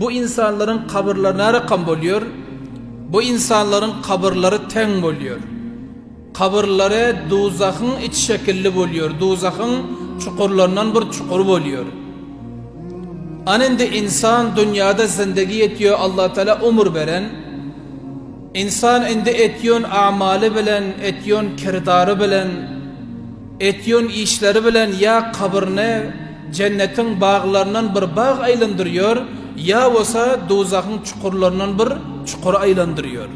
Bu ynsanlaryň kabyrlary närakam bolýar? Bu ynsanlaryň kabyrlary teň bolýar. Kabyrlary duzahyň iç şekilli bolýar, duzahyň çukurlaryndan bir çukur bolýar. Ana indi ynsan dünýäde zindegi etýär, Allatagala ömür beren. Ynsan indi etýän amaly bilen, etýän kirdary bilen, Etýän işleri bilen ýa kabryny Jennetiň baglaryndan bir bag aýlandyrýar, ýa bolsa dowzahyň çukurlaryndan bir çukur aýlandyrýar.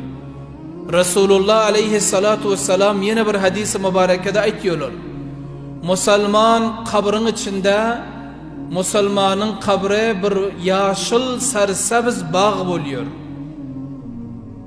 Resulullah aleýhessalatu wessalam ýene bir hadysy mubarekede aýtýarlar, Musulman kabryň içinde musulmanyň kabry bir ýaşyl-sarysabz bag bolýar.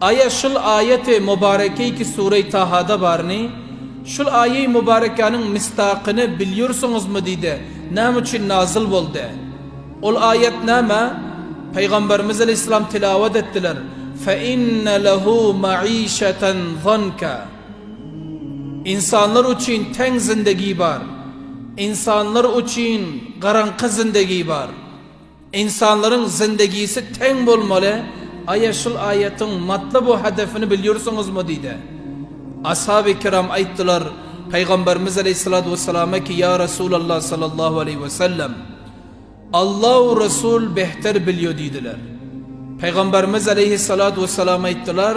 Aýa şul aýaty mubarekeýki Sure-i Tahada barny, şul aýa-i mubarekäniň misdakyny bilýursuňuzmy diýdi, näme üçin nazyl boldy? Ol aýat näme? Pygamberimiz aleýhissalam tilawat etdiler, Fe inne lehu maişeten zonka. Ynsanlar üçin teň zindegi bar. Ynsanlar üçin garaňky zindegi bar. Ynsanlaryň zindegisi teň bolmaly, aýa şul aýatyň matlab we hedefini bilýursuňuzmy diýdi. Ashaby ikiram aýtdylar, Pygamberimiz aleýhissalatu wessalama ki ýa Resulallah sallallahu aleýhi wesellem, Allah we Resul behter bilýo diýdiler. Pygamberimiz aleýhissalatu wessalam aýtdylar,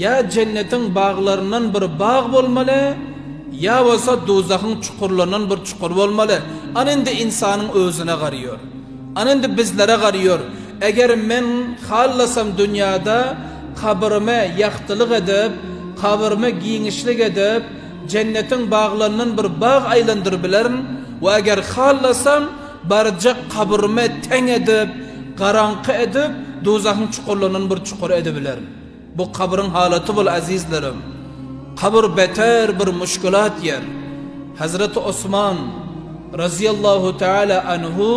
Ýa jennetiň baglaryndan bir bag bolmaly, ýa bolsa duzahyň çukurlaryndan bir çukur bolmaly. Ana indi ynsanyň özüne garýor. Ana indi bizlere garýor. Eger men hallasam dünýäde kabyrmy ýagtylyk edip, kabyrmy giňişlik edip, jennetiň baglaryndan bir bag aýlandyryp bilerin we eger hallasam barjak kabyrmy teň edip, garaňky edip, duzahyň çukurlaryndan bir çukur edibilerin. Bu kabryň halaty bul azizlerim. Kabr beter bir muşkilat ýer. Hazreti Osman, Razyýallahu Teala Anhu,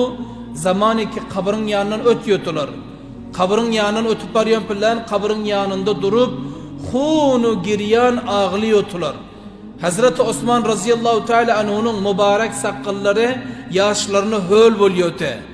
zamany ki kabryň ýanyndan öt ýotular. Kabryň ýanyndan ötüp barýan pillän kabryň ýanynda durup hunu girýan agly ýotular. Hazreti Osman Razyýallahu Teala Anhunyň mubarek sakgallary ýaşlaryna höl bol ýote.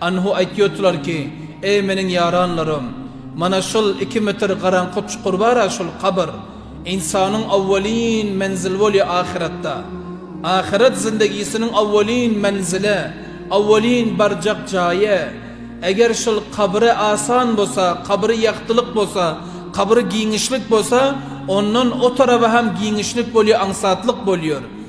Anhu aýtýotlar ki, Eý, meniň ýaranlarym! Mana şol iki metr garaňky çukur bar-a, şol kabyr. Ynsanyň owwalin menzili bolýar ahyratda. Ahyrat zindegisiniň owwalin menzili, owwalin barjak jaýy. Eger şol kabyry asan bolsa, kabyry ýagtylyk bolsa, kabyry giňişlik bolsa, ondan o taraba hem giňişlik bolýar, aňsatlyk bolýar.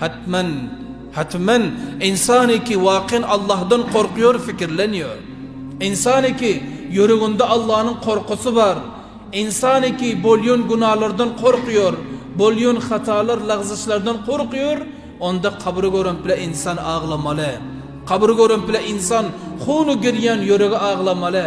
Hatman, hatman, ynsan-y ki wakin Allahdan gorkýar, fikirlenýär. Ynsan-y ki, ýüreginde Allanyň gorkusy bar. Ynsan-y ki, bolýan günalardan gorkýar, bolýan hatalar, lagzyşlardan gorkýar, onda kabry görüp-le ynsan aglamaly. Kabry görüp-le ynsan huny girýän ýüregi aglamaly.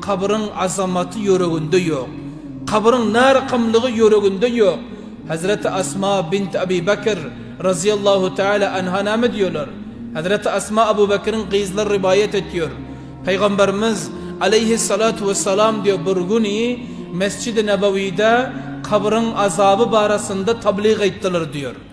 Kabryň azamaty ýüreginde ýok. Kabryň narykmlygy ýüreginde ýok. Hezreti Asma bint Abi Bakr, razyýallahu teala anha näme diýýärler? Hezreti Asma Abu Bakryň gyzlary riwaýat etýär. Pygamberimiz, aleýhissalatu wessalam, diýýär, bir güni Mesjidi Nebawide kabryň azaby barasynda tablyk aýtdylar diýýär.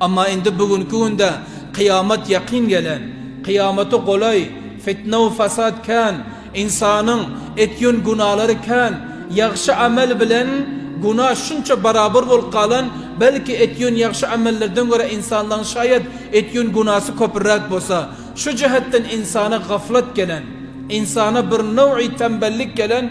Emma indi bu günki günde kyýamat ýakyn gelen, kyýamata golaý, fitne-u fasad kän, ynsanyň etýän günalary kän, ýagşy amel bilen guna şunça barabar bolup galan, belki etýän ýagşy amellerden görä ynsanlaň şaýat etýän gunasy köpürräk bolsa, şu jähetden ynsana gaflat gelen, ynsana bir nowy tembellik gelen,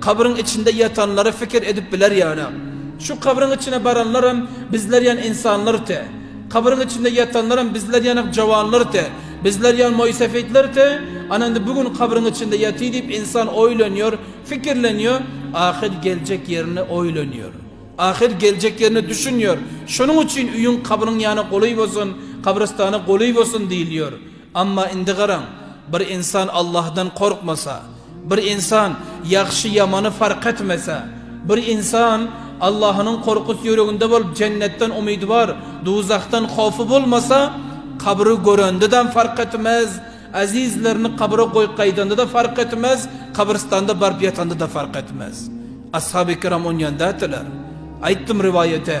Kabryň içinde ýatanlary fikir edip biler ýalam. Şu kabryň içine baranlaram bizler ýan ynsanlar te. Kabryň içinde ýatanlaram bizler ýanak jawanlar te. Bizler ýan moýsefitler te. Ana indi bu gün kabryň içinde ýaty diýip ynsan oýlanýar, fikirlenýär, ahyr geljek ýerini oýlanýar. Ahyr geljek ýerine düşünýär. Şonuň üçin öýüň kabryň ýana goly bolsun, kabrystana goly bolsun diýilýär. Emma indi garaň, bir insan Allahdan gorkmasa, bir insan ýagşy-ýamany fark etmese, bir insan Allahynyň gorkusy ýüreginde bolup, jennetden umydy bar, duzahdan howfy bolmasa, kabry görende-dem fark etmez, ezizlerini kabra goýup gaýdanda-da fark etmez, kabrystanda baryp ýatanda-da fark etmez. Ashaby kiram on ýanda etdiler. Aýtdym riwaýaty.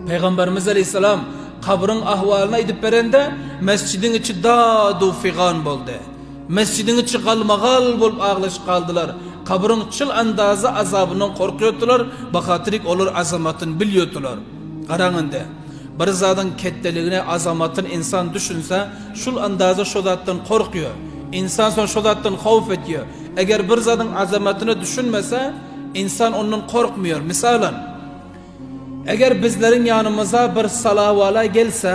Pygamberimiz aleýhissalam kabryň ahwalyny aýdyp berende, mesjidiň içi dadu figan boldy. Mesjidiň içi galmagal bolup aglaşyp galdylar. Kabryň çyl andazy azabyndan gorkýardylar, bahatyrik olar azamatyn bilýardylar. Garaň indi, bir zadyň ketdeligine azamatyn ynsan düşünse, şul andaza şo zatdan korkýar. Ynsan soň şo zatdan howp etýär. Eger bir zadyň azamatyna düşünmese, ynsan ondan korkmaýar. Mysalan, eger bizleriň ýanymyza bir salawala gelse,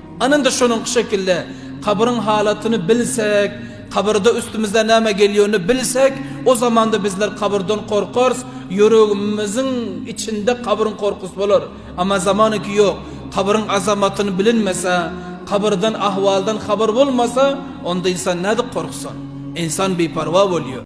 Anynda şonuňky şekilde kabyryň halatyny bilsek, kabyrda üstümizden näme gelýänini bilsek, o zamanda bizler kabyrdan gorkarys, ýüregimiziň içinde kabryň gorkusy bolar. Emma zamanynky ýok. Kabryň azamatyny bilinmese, kabyrdan ahwaldan habar bolmasa, onda ynsan nädip gorksun? Ynsan biparwa bolýar.